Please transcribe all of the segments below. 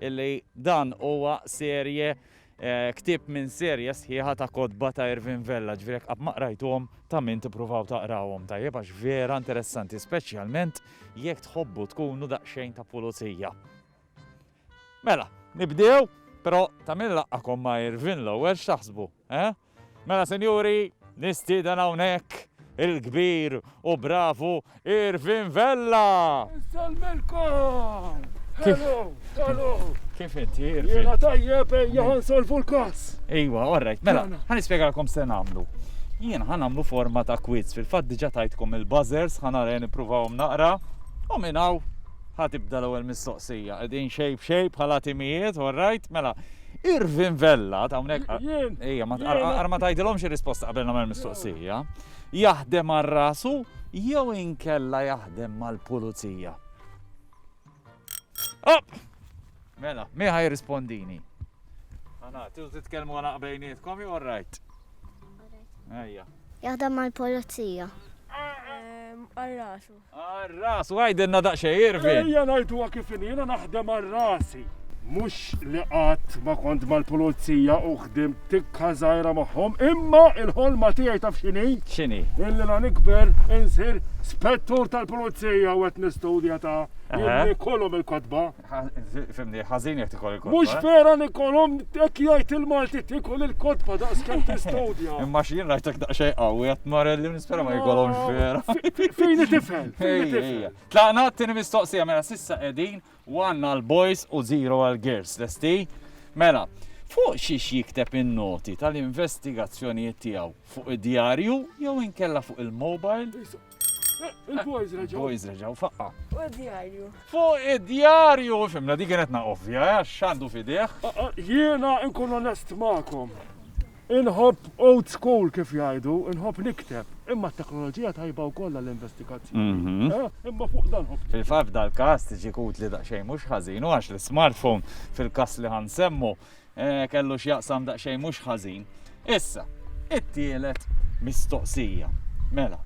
illi dan huwa serje, ktieb minn serje sħiħa ta' kotba ta' Irvin Vella, ġifieri jekk qatt ma qrajtuhom ta' min tippruvaw taqrawhom tajjeb għax vera interessanti speċjalment jekk tħobbu tkunu daqsxejn ta' pulizija. Mela, nibdew, però ta' min laqgħakom ma' Irvin l-ewwel x'taħsbu, eh? Mela sinjuri, nistieden hawnhekk il-kbir u bravu Irvin Vella! Insellmilkom! Hello! Hello! Kif inti, Irvin? Jiena tajjeb ejja ħa nsolvu l-każ. Ejwa, all right. Mela, Mela. ħa nispjegalkom se nagħmlu. Jien ħa nagħmlu forma ta' quiz, fil-fatt diġà tajtkom il-buzzers, ħa nara nippruvahom naqra, u minn hawn ħa tibda l-ewwel mistoqsija. Qegħdin xejb xejb bħala timijiet, all right? Mela, Irvin Vella, hawnhekk ejja ma tqarqar ma tgħidilhomx ir-risposta qabel nagħmel mistoqsija, jaħdem għal rasu jew inkella jaħdem mal-pulizija? Op! Mela, mi ħaj rispondini? Għana, tiżu titkellmu għana bejnietkom jew rajt? Ejja. Jaħdem mal-pulizija. Għal rasu. Għar-ras, u għidilna daqsxejn, Irvin! Ejja ngħiduha kif inhi, jiena naħdem għal rasi. Mhux li qatt ma kont mal-Pulizija u ħdimt tikka żgħira magħhom, imma l-ħolma tiegħi taf x'inhi? X'inhi? Illi la nikber insir Spettur tal-Pulizija u qed nistudja ta' illi jkollhom il-kotba. Fimni, ħażin jekk tikol il-kotba. Mhux eh? vera nikolhom hekk jgħid il-Malti tikol il-kotba daqs kemm tistudja. Imma x'jien rajtek daqsxejn qawwi qed marelli nispera ma jkollhomx vera. Fejn tifhem? Tlaqna t-tieni mistoqsija mela sissa qegħdin one għal boys u zero għal girls. Lesti? Mela, fuq xiex jikteb in-noti tal-investigazzjonijiet tiegħu fuq id-djarju jew inkella fuq il-mobile? Il-boys reġaw. Il-boys reġaw, faqqa. U id-djarju. Fuq id-djarju, fimna, di kienet naqovja, eh, xandu fideħ. Jiena nkun onest ma'kom. Inħob old school kif jgħidu, inħob nikteb, imma t-teknoloġija tajba u kollha l-investigazzjoni. Mhm. Eh, imma fuq dan ħob. Fil-faf dal-kas tiġi kut li daqxej mhux ħażinu għax l-smartphone fil-kas li ħansemmu Eh, kellu x'jaqsam daqsxejn mhux ħażin. Issa, it-tielet mistoqsija. Mela,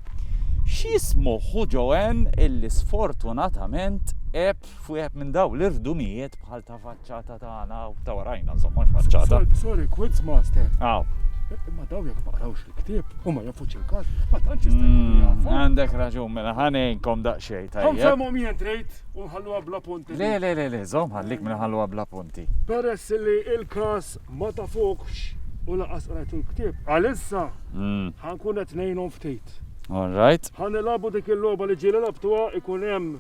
x'jismu ħu Joanne illi sfortunatament eb fwieħed minn daw l-irdumijiet bħal ta' faċċata tagħna u ta' warajna żomma faċċata. Sorry, quiz master. Aw. Ma daw jekk ma qrawx il-ktieb u ma jafux il-każ, ma tantx jista' mm, Għandek raġun mela ħanejnkom daqsxejn tajjeb. Ħanfhomhom jien trid u nħalluha bla punt. Le le le le, żomm ħallik minn ħalluha bla punt. l-effetti. Peress li il-każ ma tafuhx u lanqas qrajt il-ktieb, għalissa ħa nkun qed ngħinhom ftit. All right. Ħa nilagħbu dik il-logħba li ġieli lagħbtuha, ikun hemm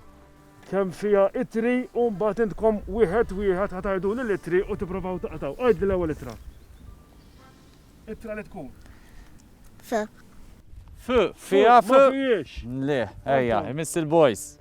kemm fiha ittri u mbagħad intkom wieħed wieħed ħa tgħiduli l-ittri u tipprovaw taqtgħu. Għidli l-ewwel ittra. Ittra li tkun. F. F, fiha F. Ma fihiex. Le, ejja, imiss il-boys.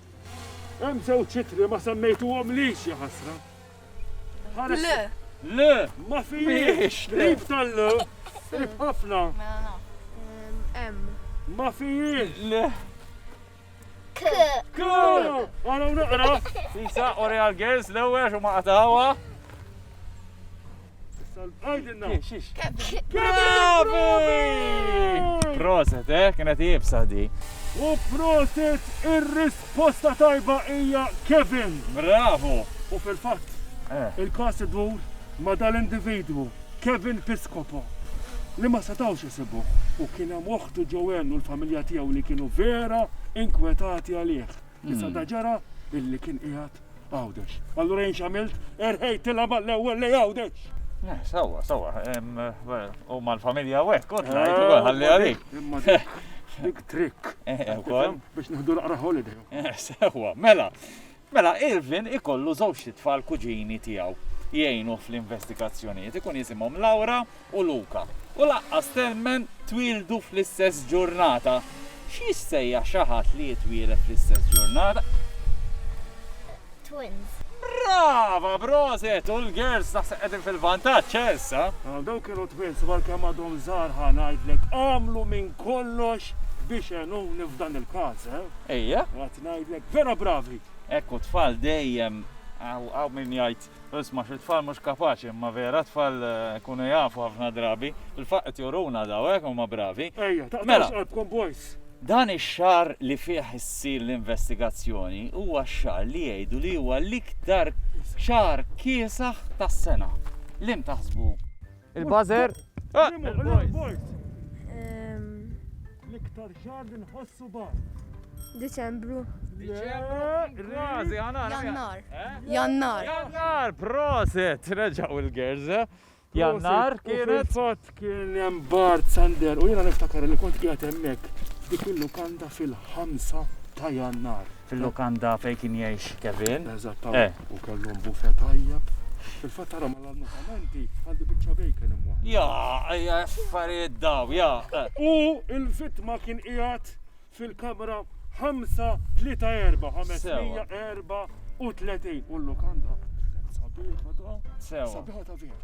Hemm żewġ ittri ma semmejtuhomlix, ja ħasra. Ħares. Le. Le, ma fijiex. Qrib tal-le, qrib ħafna. Mela Hemm. Ma fijiex. Le. K. K. Għana naqra. Sisa, Oreal Girls, l-ewwel xumma qatawa. Proset, eh? Kienet jibsa di. U proset ir-risposta tajba hija Kevin. Bravo. U fil-fatt, eh. il-kas idur ma dal-individwu Kevin Piscopo li ma setawx isibu u kien hemm oħtu Joanne u l-familja tiegħu li kienu vera inkwetati għalih. Issa da ġara illi kien qiegħed Għawdex. Allura jien x'għamilt? Erħejtilha mal-ewwel lej Għawdex. Eh, sawa, sawa, u mal-familja u hekk, kont ngħid ukoll eh, ħalli għalik. Dik trick. Eh, ukoll. Biex nieħdu naqra holiday. Sawa, mela. Mela, Irvin ikollu żewġ tfal kuġini tiegħu jgħinu fl-investigazzjonijiet. Ikun jisimhom Laura u Luka, u lanqas temmen twieldu fl-istess ġurnata. X'jissejjaħ xi ħadd li jitwieled fl-istess ġurnata? Twins. Brava! Proset! U l-girls naħseb qegħdin fil-vantaġġ, eh, issa? Għal dawk kienu twins u għalkemm għadhom żgħar ħa ngħidlek għamlu minn kollox biex għenuni f'dan il-każ, eh? Ejja. Għad ngħidlek vera bravi! Hekk u t-tfal dejjem hawn min jgħid Isma' xi tfal mhux kapaċi imma vera tfal ikunu jafu ħafna drabi. Fil-fatt qed juruna daw hekk huma bravi. Ejja, taqtgħux qalbkom boys! Dan ix-xahar li fih issir l-investigazzjoni huwa x-xahar li jgħidu li huwa l-iktar xahar kiesaħ tas-sena. L-imtaħsbu? Il-buzzer. L-iktar xar li nħossu bar. Diċembru. Kważi, għana. Jannar. Eh? Jannar. Jannar, proset. Reġaw il-gerz. Eh? Jannar kienet. Fot kien jem bar Sander u jena niftakar li kont qiegħed hemmhekk dik il-lukanda fil-5 ta' Jannar. fil-lukanda fejn kien jgħix Kevin. Eżattament, eh. u kellhom bufe tajjeb. Fil-fatt tara ma l-annunzamenti għandi biċċa bejken imwa. Ja, ja, affarijiet daw, ja. Eh. U il-vittma kien qiegħed fil-kamra 5-3-4, 534 u l-lukanda. Sabiħa ta' vera.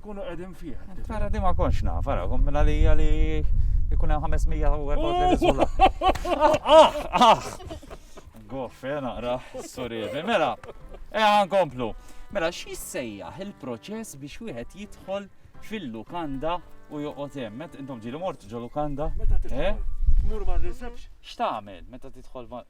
Kunu qegħdin fih. Tara di ma konx naf, ara, kum minn għalija li jkun hemm 534 sola. Goffe, naqra, surievi. Mela, e komplu. Mela, xi sejjaħ il-proċess biex wieħed jidħol fil-lukanda u joqgħod hemm. Intom ġieli mort ġo lukanda? Meta eh? Mur ma' reception. X'tagħmel meta tidħol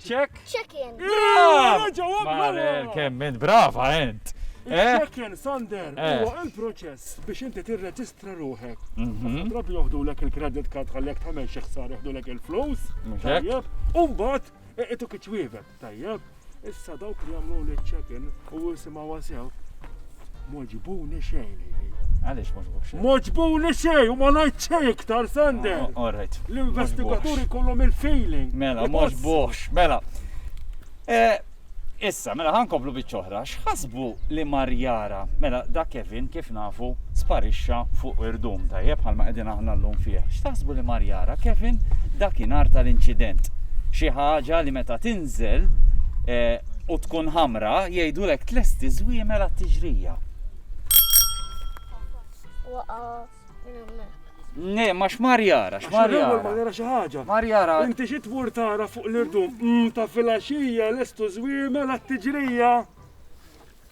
Check. Check in. Mare, kemm int brava int. Eh? Check in Sander, eh. huwa il-proċess biex inti tirreġistra ruħek. Mhm. Drabi joħdulek il-credit card ħallek tagħmel xi ħsar joħdulek il-flus. Tajjeb, u mbagħad iqitu kiċwievet, tajjeb. Issa dawk li jagħmlu li check-in u jisimgħu sew Moġbuni xejn. Għaliex moġbuk xejn? Moġbuni xejn u ma ngħid xejn iktar Sander. Oh, oh, Alright. L-investigaturi kollhom il-feeling. Mela, moġbux, mela. Eh, issa, mela ħankomplu biċ-ċoħra, x'ħasbu li Marjara, mela da Kevin kif nafu sparixxa fuq irdum tajjeb bħalma qegħdin aħna llum fih. X'taħsbu li Marjara, Kevin dakinhar tal-inċident. Xi ħaġa li meta tin tinżel u tkun ħamra, jgħidulek tlesti żwiemel għat-tiġrija. Ne, ma xmar jara, xmar jara. Ma jara xi ħaġa. Mar jara. Inti xi tmur tara fuq l-irdum mm, ta' filgħaxija lestu żwiemel għat-tiġrija.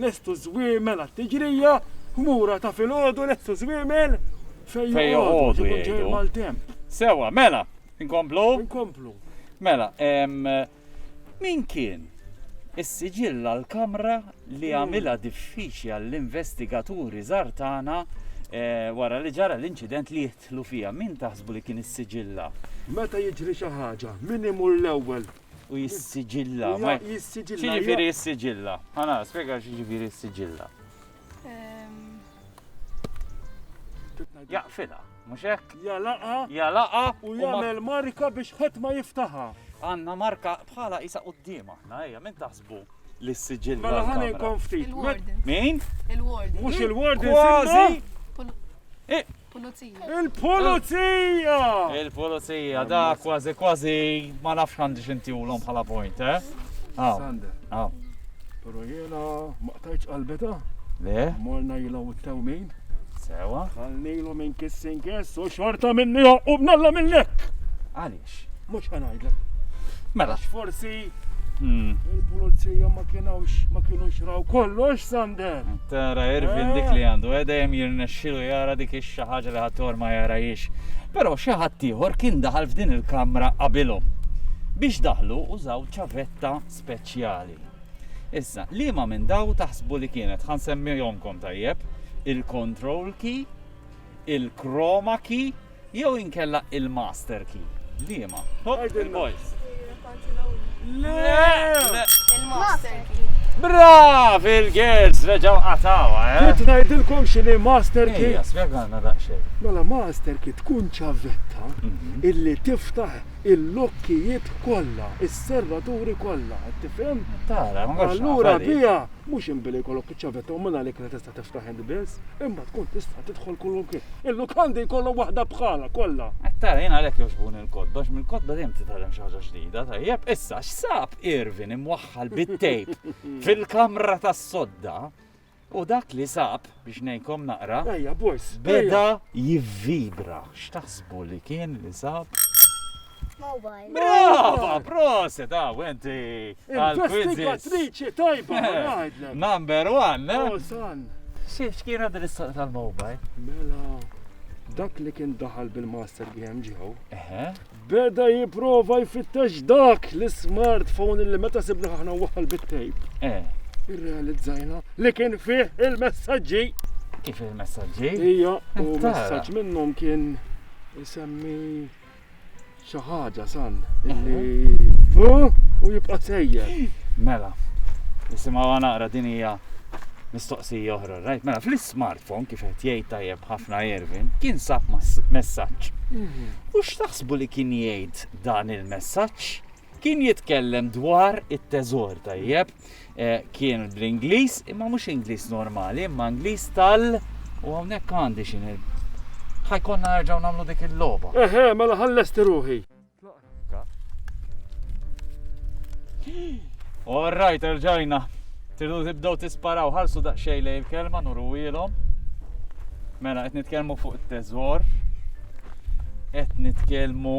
Lestu ż-żwiemel għat-tiġrija, ħmura ta' filgħodu lestu ż-żwiemel fejn joqogħdu jekk ikun ġej il-maltemp. Sewwa, mela, inkomplu? Inkomplu. Mela, min kien is-siġill għall-kamra li għamilha diffiċli għall-investigaturi żgħar tagħna wara li ġara l-inċident li jidħlu fiha? Min taħsbu li kien is-siġilla? Meta jiġri xi ħaġa, min imur l-ewwel? U jissiġilla. Jissiġilla. Xieġifiri jissiġilla? Għana, spiega xieġifiri jissiġilla. Jaqfila, mux hekk? Jalaqa. Jalaqa. U jagħmel marka biex ħadd ma jiftaħa. Għanna marka bħala isa qudiem aħna, ejja, minn taħsbu li s-siġil. Mela ħani konftit. Min? Il-warden. Mux il-warden. Kważi. Pulizija. Il-pulizija! Il-pulizija, da kważi kważi ma nafx għandi xintijulhom bħala point, eh? Sander. Aw. Pero jena ma qtajċ qalbeta. Le? Morna jila u t-tewmin. Sewa? Għalnilu minn kissin kiss u xorta minni għaqqub nalla minnlek. Għali. Mhux ħa ngħidlek. Mela. Forsi hmm. il-pulizija ma kienux ma kienux raw kollox Sander. Tara Irvin dik li eh. għandu, eh, dejjem jirnexxilu jara dik ix-xi ħaġa li ħator ma jarajiex. Però xi ħadd ieħor kien daħal f'din il-kamra qabilhom. Biex daħlu użaw ċavetta speċjali. Issa, li ma minn daw taħsbu li kienet ħan semmijomkom tajjeb, il-control key, il-chroma key, Jew inkella il-master key. Liema? Il-master key. Brav il-girls reġgħu qatawha, eh? Trid ngħidilkom x'inhi master key? Ejja, spjegalna daqsxejn. Mela master key tkun ċavetta mhm. illi tiftaħ il-lokkijiet kollha, is-serraturi kollha, qed tifhem? Tara, ma Allura biha mhux inbili jkollok iċ-ċavetta u minn għalik Tiftaħ il-lbies, imma tkun tista' tidħol kulunki. Il-lukandi jkollhom waħda bħalha kollha. Qed tara jien għalhekk jogħġbuni l-kotba għax mill-kotba dejjem titgħallem xi ħaġa ġdida tajjeb. Issa x'sab Irvin imwaħħal bit-tejp fil-kamra tas-sodda U dak li sab biex nejkom naqra. Ejja, boys. Beda jivvibra. X'taħsbu li kien li sab? Mobile. Brava, proset, għaw, enti. Investigatriċi tajba, għajdlek. Number one, ne? Oh, son. Xiex kiena din is-saqqa tal-mobile? Mela, dak li kien daħal bil-master game ġew. Beda jiprofa jfittex dak l-smartphone li meta sibna ħana waħal bit-tejp. Eh. Irrealizzajna li kien fih il-messagġi. Kif il-messagġi? Ija, u messaġġ minnhom kien isemmi xi ħaġa san illi u jibqa' sejjer. Mela, nisimgħu naqra din hija mistoqsija oħra, rajt? Mela, fl-smartphone kif qed jgħid tajjeb ħafna Irvin, kien sab messaġġ. Mhm. U x'taħsbu li kien jgħid dan il-messaġġ? Kien jitkellem dwar it-teżor tajjeb. Eh, kien bl-Ingliż, imma mhux Ingliż normali, imma Ingliż tal u hawnhekk għandi xi ħajkonna nerġgħu nagħmlu dik il-logħba. Eħe, mela ħallesti ruħi. All right, erġajna. Tridu tibdew tisparaw ħarsu daqsxejn lejn il-kelma nurwielhom. Mela qed nitkellmu fuq it-teżor. Qed nitkellmu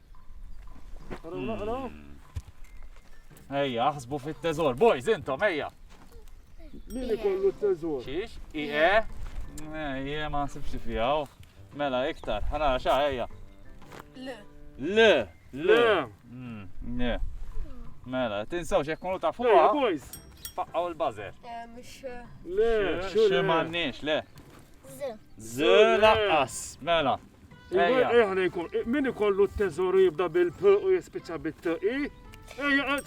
Ejja, aħsbu fit-teżor. Boys, intom, ejja. Min ikollu t-teżor? Xiex? I e? Ejja, ma nsibx fija. Oh. Mela, iktar. Ħana, xa, ejja. L. L. L. Mm, mela, tinsaw xek kunu ta' fuqa. Boys. Faqqaw il-bazer. Eh, mux. Eh. Le, xu le. Xu mannix, le. Z. Z laqqas. Mela. Ejja. Ejja ħna jkun. Min ikollu t-teżoru jibda bil-p u jispiċċa bit-t i? Ejja.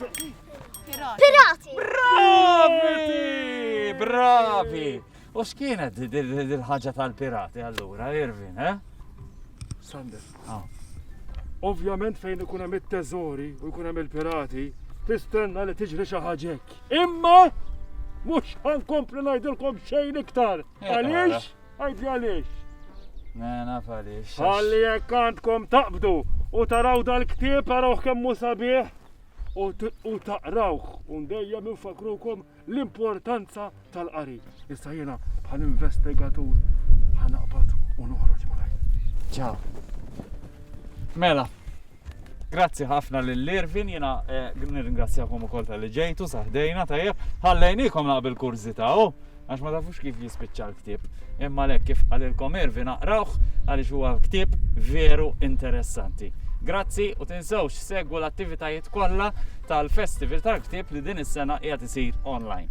Pirati! Bravi! Bravi! U x'kienet dil-ħaġa tal-pirati allura, Irvin, eh? Sander. Ah. Ovvjament fejn ikun hemm it-teżori u jkun hemm il-pirati, tistenna li tiġri xi ħaġek. Imma mhux ħankompli ngħidilkom xejn iktar. Għaliex? Għidli għaliex. Ne, naf għaliex. Għalli jekk għandkom taqbdu u taraw dal-ktieb għarawh kemm hu sabiħ u taqrawh u dejjem infakrukom l-importanza tal-qari. Issa jiena bħal investigatur ħanaqbad u noħroġ malaj. Ciao. Mela, Grazzi ħafna lil Irvin, jiena eh, nirringrazzjakom ukoll tal-li ġejtu saħdejna tajjeb. Ħallejnikom naqbel kurżità, oh, għax ma tafux kif jispiċċa l-ktieb. Imma lek kif qalilkom Irvin aqrawh għaliex huwa ktieb veru interessanti. Grazzi u tinsewx segwu l-attivitajiet kollha tal-Festival tal-Ktieb li din is-sena qiegħed isir online.